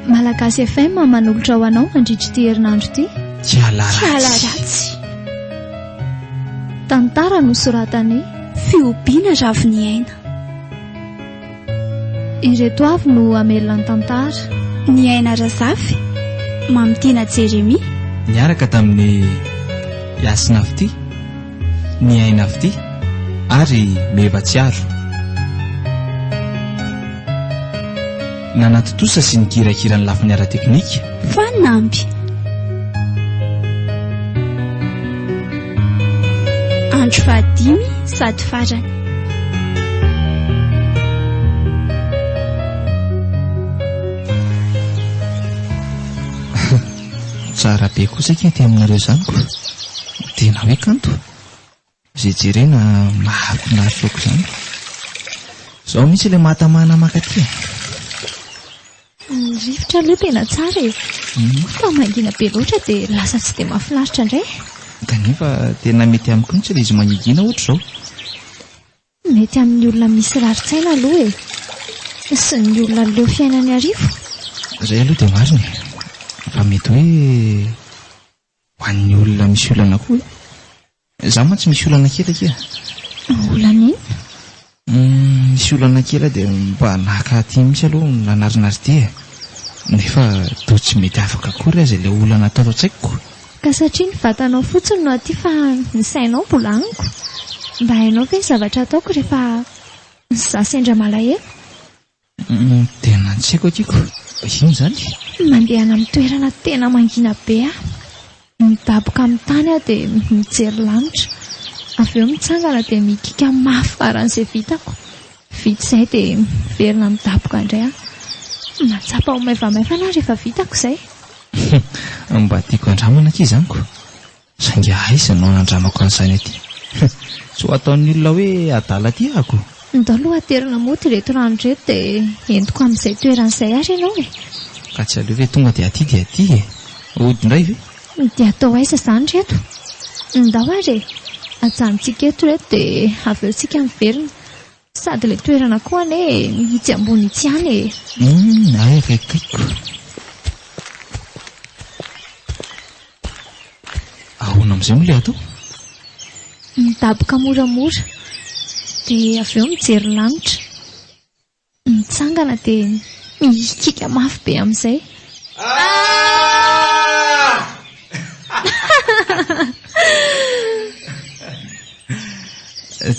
Malagasy FM manolotra ho anao mandritra ity herinandro ity. Kiala ratsy. Tantara nosoratan'i Fihobiana Raviniaina. Ireto avy no hamelona ny tantara. Ny aina Razafy, Mamitiana Jérémie. Niaraka tamin'i Yasina Fitia, Ny aina Fitia ary Meva Tsiaro. Nanatontosa sy nikirakira ny lafiny ara-teknika. Fanampy. Andro fahadimy sady farany. Tsara be kosa akia aty aminareo izany ko. Tena hoe kanto. Izay jerena mahafinaritra aok'izany. Izao mihitsy ilay mahatamana maka aty e. Ny rivotra aloha tena tsara e. Moa fa mangina be loatra dia lasa tsy dia mahafinaritra indray e. Kanefa tena mety amiko mihitsy ilay izy mangingina ohatr'izao. Mety amin'ny olona misy rarin-tsaina aloha e. Sy ny olona leo fiainan'ny arivo. Izay aloha dia marina e. Fa mety hoe. Ho an'ny olona misy olana koa. Izaho mantsy misy olana kely akia. Olana inona? Misy olana kely aho dia mba naka aty mihitsy aloha ny lanarin'Ardia e. Nefa toa tsy mety afaka akory aza ilay olana ato an-tsaiko. Ka satria ny vatanao fotsiny no aty fa ny sainao mbola any ko. Mba hainao ve ny zavatra ataoko rehefa izaho sendra malahelo? Tena tsy haiko aky ko. Inona izany? Mandehana amin'ny toerana tena mangina be aho. Midaboka amin'ny tany aho dia mijery lanitra. Avy eo mitsangana dia mikiaka mafy faran'izay vitako. Vita izay dia miverina midaboka indray aho. Mahatsapa ho maivamaivana aho rehefa vitako izay. Mba tiako handramana aky izany ko. Saingy aiza no anandramako an'izany aty? Tsy ho ataon'ny olona hoe adala aty aho. Ndao aloha aterina mody ireto rano ireto dia entiko amin'izay toerana izay ary ianao e! Ka tsy aleo ve tonga dia aty dia aty e! Hody indray ve? Dia atao aiza izany ireto? Ndao ary e! Ajanontsika eto ireto dia avy eo isika miverina. Sady le toerana koa anie itsy ambony itsy ihany e. Hum, ay re toiko. Ahoana amin'izay moa le atao? Midaboka moramora, dia avy eo mijery lanitra. Mitsangana dia mihikiaka mafy be amin'izay. Ah!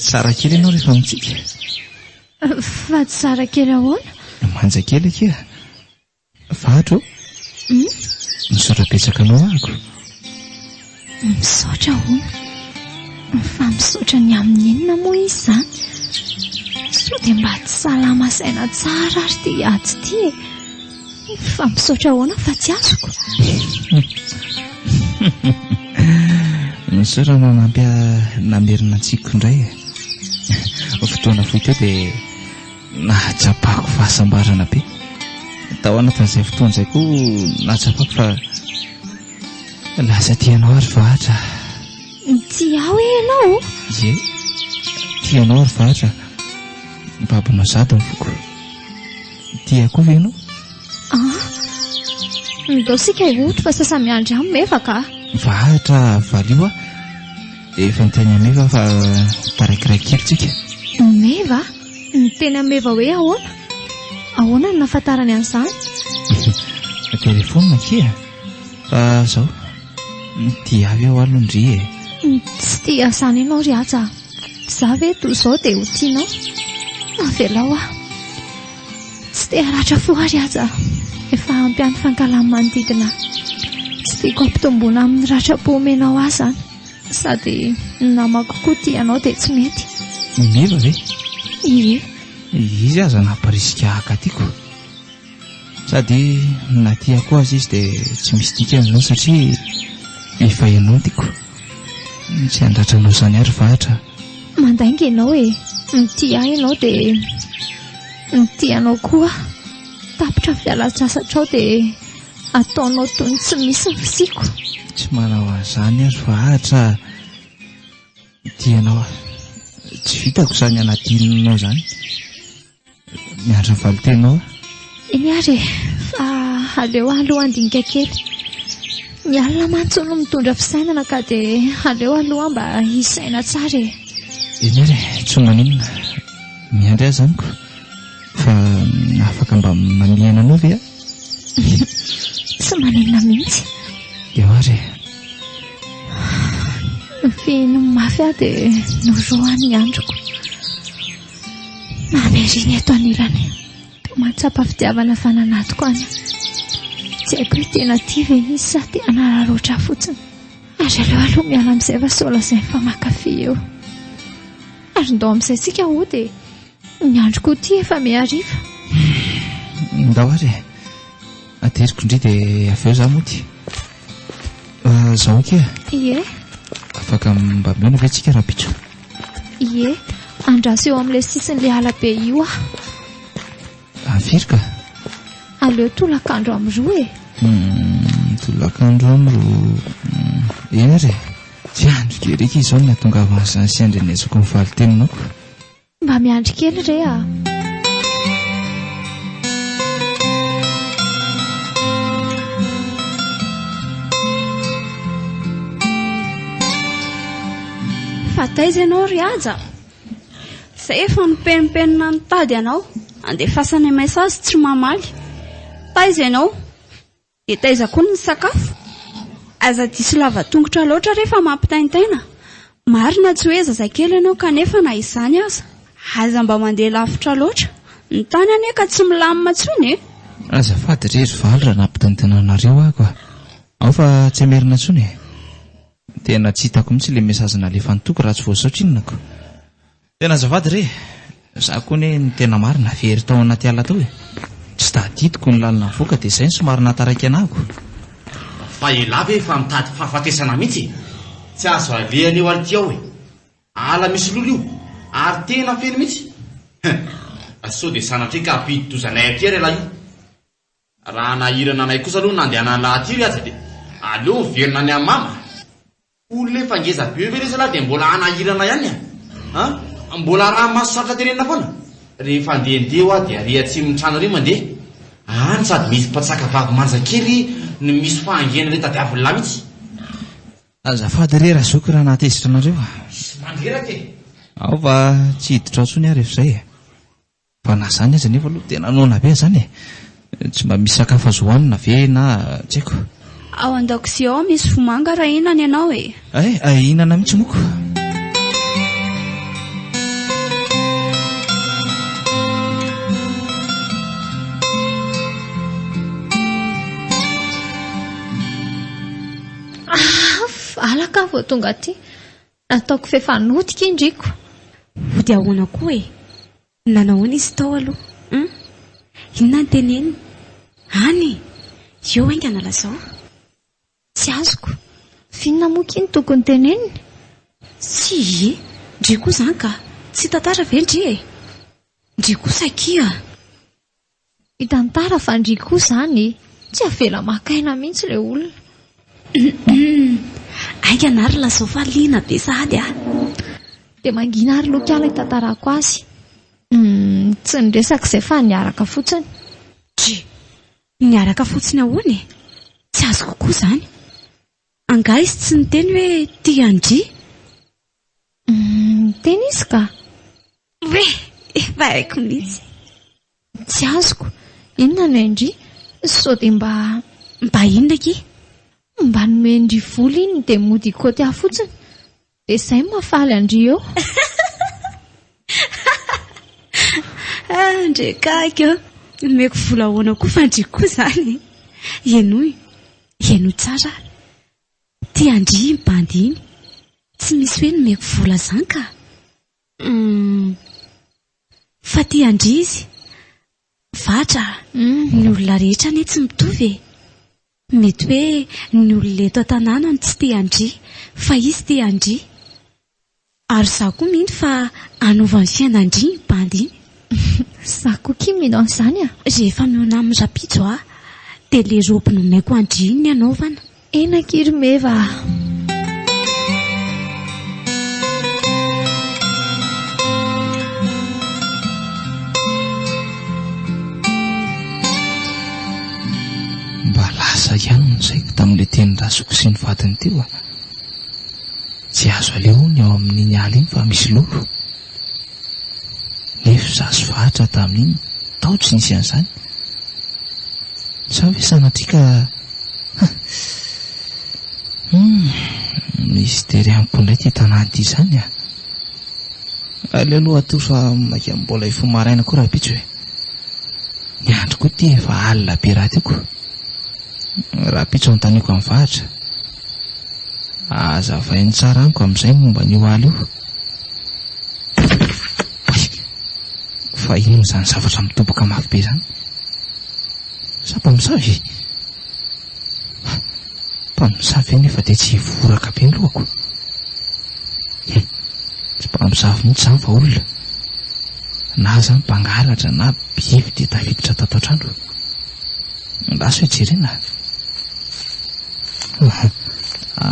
Tsara kely ianao rehefa mitsiky. Fa tsara kely ahoana? Manja kely akia. Vato. Hmm? Misaotra betsaka anao ahako. Misaotra ahoana? Fa misaotra ny amin'ny inona moa izy izany? Sao dia mba tsy salama saina tsara ary ity aty ity e. Fa misaotra ahoana fa tsy azoko? Misaotra nanampy ahy namerina an-tsiko indray e. Fotoana fohy teo dia nahatsapako fahasambarana be. Tao anatin'izay fotoana izay koa nahatsapako fa lasa tianao ry Vahatra. Tsy aho e ianao ô? Ie, tianao ry Vahatra. Babonao sady ny foko. Tia koa ve ianao? Ah, ndao sika hihoty fa sasa miandry ahy Meva ka. Vahatra valio aho. Efa niteny an'i Meva fa tarakiray kely tsika. Meva? Niteny an'i Meva hoe ahoana? Ahoana no nahafantarany an'izany? Telefonina kia. Fa zao, tia ahy ve ho'a aloha ndry e? Tsy tia izany ianao ry Haja. Izaho ve toa izao dia ho tianao? Avelao aho. Tsy te haratra fo àry aza aho. Efa ampy ihany fankahalan'ny manodidina ahy. Tsy tiako hampitomboana amin'ny ratram-po omenao ahy izany. Sady ny namako koa tia anao dia tsy mety. I Meva ve? Ie. Izy aza namparisika haka tiako. Sady na tiako aza izy dia tsy misy dikany izany satria efa enantiko. Tsy handratranao izany ary vahatra a! Mandainga ianao e! Mitia ahy ianao dia mitia anao koa aho. Tapitra fialan-tsasatrao dia ataonao toy ny tsy misy ny fisiako. Tsy manao an'izany aho ry vahatra a! Mitia anao aho. Tsy vitako izany hanadinonao izany. Miandry ny valin-tenao. Eny ary e, fa aleo aloha handinika kely. Ny alina mantsy hono mitondra fisainana ka dia aleo aloha mba hisaina tsara e. Eny ary e, tsy maninona. Miandry azy amiko. Fa afaka mba manihana anao ve aho? Tsy maninona mihitsy. Eo ary e. Nofihiny mafy aho dia norohany ny androko. Namerin eto anilany Dia mahatsapa fitiavana fa nanatiko any Tsy haiko hoe tena tia ve izy sa te hanararoatra ahy fotsiny Ary aleo aloha miala amin'izay fa sao lazainy fa mankafy eo Ary ndao amin'izay tsika hody e Ny androko ity efa mihariva Ndao ary e Ateriko ndry dia avy eo za mody Zaho akia e Ie Afaka mba mihaona ve tsika rahampitso? Ie, andraso eo amin'ilay sisin'ilay ala be io aho. Afiry ka? Aleo tolakandro amin'ny roa e. Hmm, tolakandro amin'ny roa. Hmm, eny ary e. Tsy andro gerika izao ny hatongavan'izany sy andrenesako ny valiteninako. Mba miandry kely re ah. Fa taiza ianao ry Haja? Izay efa nipenipenina nitady anao, andefasana message tsy mamaly. Taiza ianao? Dia taiza koa ny sakafo? Aza diso lavatongotra loatra re fa mampitaintaina. Marina tsy hoe zazakely ianao kanefa na izany aza, aza mba mandeha lavitra loatra. Ny tany anie ka tsy milamina intsony e! Azafady re ry valy raha nampitaintaina anareo aho ka. Ao fa tsy hamerina intsony e! Tena tsy hitako mihitsy le message nalefany toky raha tsy voasaotra inona ko. Tena azafady re, za koa anie ny tena marina very tao anaty ala tao e, tsy tadidiko ny lalana nivoaka de zay no somary nahataraiky anako. Fa elah ve efa mitady fahafatesana mihitsy e, tsy azo alehany eo ary ty ao e, ala misy lolo io ary tena feno mihitsy, hein, sao de sanatria ka hampidi-doza anay aty ary elah io, Raha nahirana anay kosa aloha ny nandehanan'i Lahatiry aza dia aleo miverina any Amama. Olona efa ngeza be ve le zalahy dia mbola hanahirana ihany an! Mbola raha maso sarotra tenenina foana. Rehefa andeha andeha hoa dia ary atsimon'ny trano ary mandeha. Any sady misy mpantsaka vavy manja kely no misy fahangiana le tadiavin'ny lahy mitsy. Azafady re Razoky raha nahatezitra anareo. Misy mandreraka e. Aoka tsy hiditra ao tsony aho rehefa izay e. Fa na zany aza nefa aloha tena noana be zany e! Tsy mba misy sakafo azo hoanina ve na tsy haiko. Ao andakozia ao misy vomanga raha hihinana ianao e! Ay, ay hihinana mihitsy moa ko! Aah! Valaka aho vao tonga aty. Nataoko f'efa notika i Ndriko. Hody ahoana koa e? Nanao ahoana izy tao aloha? Hum? Inona no teneniny? Any e! Eo haingana lazao. Tsy azoko. F'inona moa kin tokony teneniny? Tsy i Ndry koa izany ka. Tsy tantara ve Ndry e? Ndry kosa akia. Ny tantara fa ndry koa zany e! Tsy avela maka aina mihitsy le olona. Humm. Aika na ry lazao fa liana be sahady ah. Dia mangina ary lokiala hitantarako azy. Humm. Tsy niresaka izay fa niaraka fotsiny. Dry. Niaraka fotsiny ahoana e? Tsy azoko koa izany. Angaha izy tsy niteny hoe tia an-dry? Niteny izy ka! Hoe! Efa haiko mihitsy! Tsy azoko! Inona no hain-dry? Sao dia mba. Mba inona akia? Mba nomen-dry vola iny dia mody hikaoty ahy fotsiny! Dia izay no mahafaly an-dry eo. Ah, ndry akaiky ô! Nomeko vola ahoana koa fa an-dry koa izany e! Henoy, henoy tsara ary. Tian-dry iny bandy iny. Tsy misy hoe nomeko vola izany ka! Hum. Fa tian-dry izy. Fatra a! Ny olona rehetra anie tsy mitovy e! Mety hoe ny olona eto an-tanàna no tsy te handria, fa izy te handria. Ary izaho koa mino fa hanova ny fiainan-dry iny bandy iny. Izaho koa akia mino an'izany a! Rehefa mihaona amin'ny rapijo aho, dia ilay robe nomeko an-dry iny ny hanaovana. Eny akia ry meva ah. le teny rasoko sy ny vadiny teo a tsy azo aleho ny ao amin'iny ala iny fa misy lolo Nefo za sy Fahatra tamin'iny tao tsy nisy an'izany. Sa ve sanatria ka Humm, misy tery amiko indray ity tanàna ity izany a! Aleo aloha hatory fa maika mbola hifoha maraina koa rahampitso e! Ny andro koa ity efa alina be rahateo ko! Rahampitso anontaniako an'i Fahatra. Azavainy tsara amiko amin'izay ny momba an'io aly io. Fa inona izany zavatra midoboka mafy be izany? Sa mpamosavy e? Mpamosavy ve nefa dia tsy hivoraka be ny lohako? Tsy mpamosavy mihitsy izany fa olona. Na aza ny mpangalatra na biby dia tafiditra tato an-trano. Andraso e jerena a!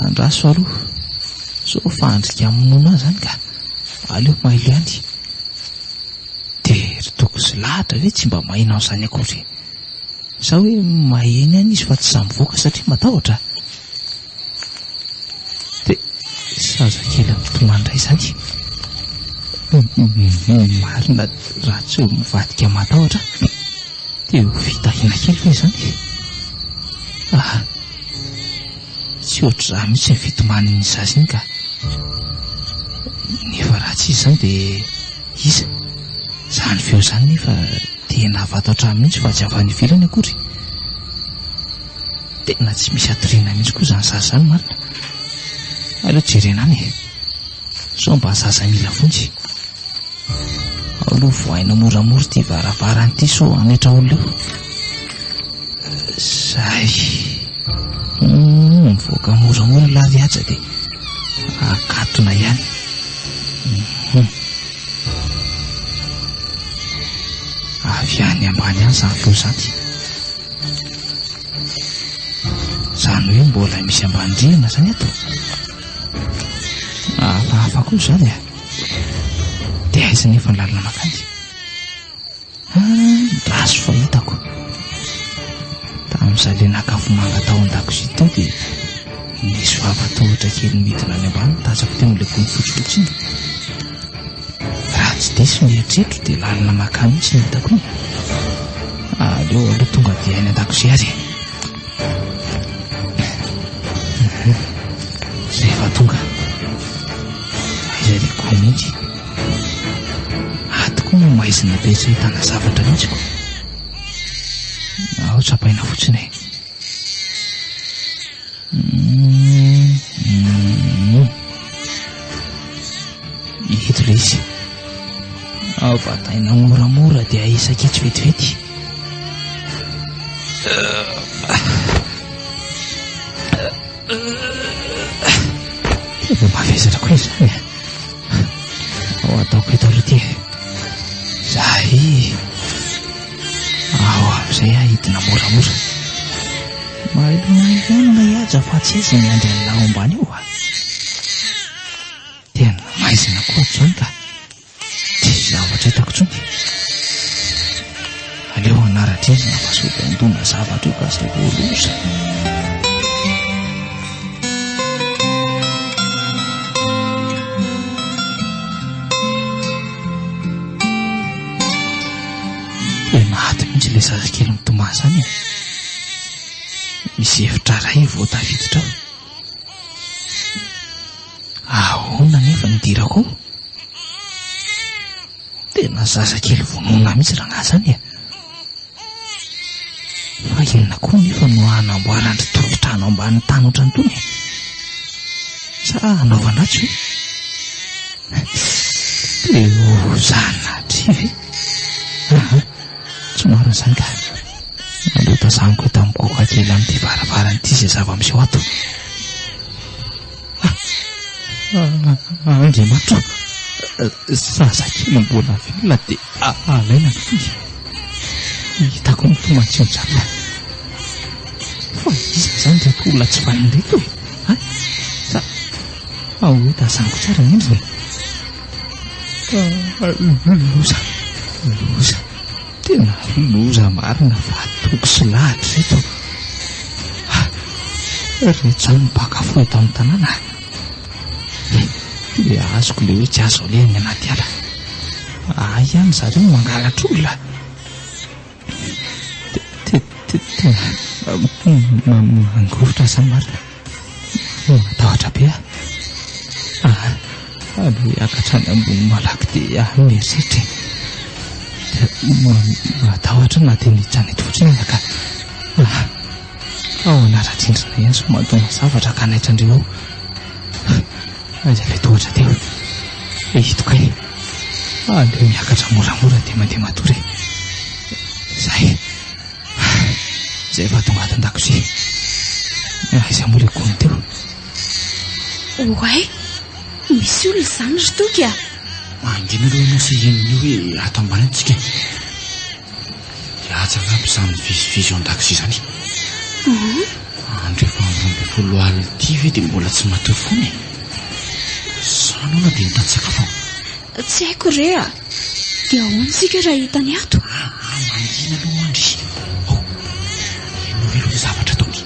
Andraso aloha. Sao fahandrika hamonoana ahy izany ka! Aleo mailo ihany. Dia ry Toky sy Lahatra ve tsy mba maheno an'izany akory? Sa hoe maheno ihany izy fa tsy sahy mivoaka satria matahotra? Dia zazakely mitomany indray izany. Marina raha tsy ho mivadika matahotra dia ho fitahina kely ve izany? Tsy ohatr'izany mihitsy ny fitomanin'ny zaza iny ka! Nefa raha tsy izy izany dia iza? Izany feo izany nefa tena avy ato an-trano mihitsy fa tsy avy any ivelany akory. Tena tsy misy hatoriana mihitsy koa izany zaza izany marina. Aleo jerena any e! Sao mba zaza mila vonjy. Ao aloha vohaina moramora ity varavarana ity sao hanaitra olona eo. Zay. Hum, mivoaka moramora la viatsa de akatona ihany. Hum. Avy any ambany any zany feo zany. Zany hoe mbola misy ambany rihana zany eto. Hafahafa koa zany ah. De aiza nefa ny lalana makany? Ratsy fahitako. Tamin'izaho ilay naka afomanga tao an-dakozia tao dia nisy vava tohotra kely midina any ambany nitazako teo amin'ilay gony fotsifotsy iny. Raha tsy diso ny eritreritro dia lalina makà mihitsy ny hitako iny. Aleo aloha tonga dia any an-dakozia ary e. Izay efa tonga. Izay ilay gony mihitsy. Aty koa no maizina be tsy ahitana zavatra mihitsy ko. Ao tsapaina fotsiny e. Eto ilay izy. Ao vataina moramora dia isakitsy vetivety. Tena mavesatra koa izany e. Ao ataoko eto aloha ity. Zay. Ao amin'izay aho hidina moramora. Mailomay ihany ilay haja fa tsy aiza ny andry an'ilay ao ambany ao. Tena maizina koa atsony ka. Tsy zavatra hitako intsony. Aleo hanara-drindrina fa sao dia handona zavatra eo ka izay vao ho loza. le zazakely mitomany zany e. Misy hevitra iray vao tafiditra ao. Ahoana anefa ny dirako ao? Tena zazakely vonoina mihitsy rangahy izany e! Fa inona koa anefa no hanamboaran-dry tompon-trano ambanin'ny tany ohatran'ny itony e? Sa hanaovana atsy ve? Te ho zanatria ve? Somary nisainga nandao tazaniko hita migogoka kely amin'ity varavarana ity izay zava-miseho ato. Andriamatoa, zazakely mbola velona dia alaina ny finga. Hitako ny toman-tsinjatony. Fa iza izany ireto olona tsy vahiny ireto e? Sa ahoana? Tazaniko tsara indrindra e! Loza, loza, tena loza marina fa toky sy lahatra ireto. Rehetra ny mpaka fo eto amin'ny tanàna. Dia azoko ilay hoe tsy azo aleha ny anaty ala. Ahy ihany zareo mangalatra olona. Mangovitra aza marina. Matahotra be aho. Aleo hiakatra any ambony malaky dia any herisetra e. Matahotra na dia miditra any eto fotsiny aza ka. Ahoana Rajendrina ihany sao mahatonga zavatra ganaitra andreo ao. Aiza ilay tohatra teo e hitokay. Aleo miakatra moramora dia mandeha matory e. Izay. Izay efa tonga ato an-dakozia. Aiza moa ilay gony teo. Oay, misy olona izany ry Toky a. Mangina aloha ianao sy inona io hoe ato ambany tsika. Dia atsy angamba izany mivezivezy eo an-dakozia izany. Andro efa roa ambin'ny folo alina ity ve dia mbola tsy matory foana e? Izaho noana dia mitady sakafo aho. Tsy haiko re a. Dia ahoana isika raha hitany ato? Aa, mangina aloha mandry. Ao, henoy aloha ilay zavatra ataony.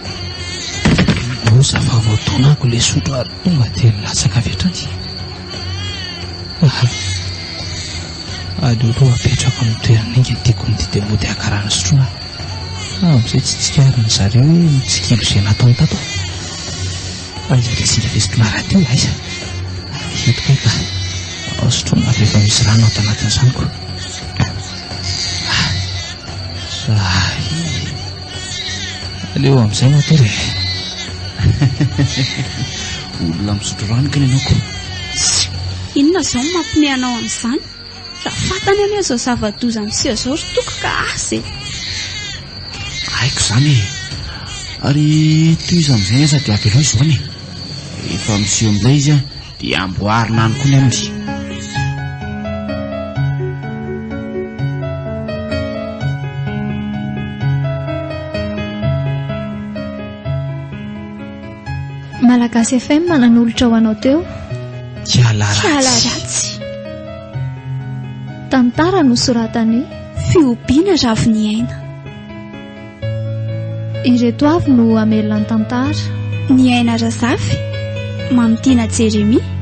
Osa fa vao tonako ilay sotro ary tonga dia latsaka avy hatrany. Aleoleo apetrako amin'ny toerana enga ny tiako ny didy amin'ny ody hakarana sotroina fa amin'izay tsy tsikarin'ny zareo hoe mitsikilo izay nataony tato aho. Aiza ilay zinga vesiko naraha teo? Aiza? Eto kay ka. Ao sotroina avy efa misy rano ato anatin'ny zanoko. Ah, ah, Aleo amin'izay matory e. Olona misotro rano kely ianao ko. Inona izao no mampime anao amin'izany? Raha fantany anie izao zava-doza miseho izao ry toko ka asa e. Haiko izany e. Ary tohizo amin'izay aza dia avelao izao anie. Efa miseho amin'ilay izy an, Dia amboarina any koa indry. Malagasy FM nanolotra ho anao teo Kiala Kiala ratsy. ratsy Tantara nosoratan'i Fihobiana Raviniaina Ireto avy no hamelona ny tantara. Ny aina Razafy, Mamitiana Jeremia.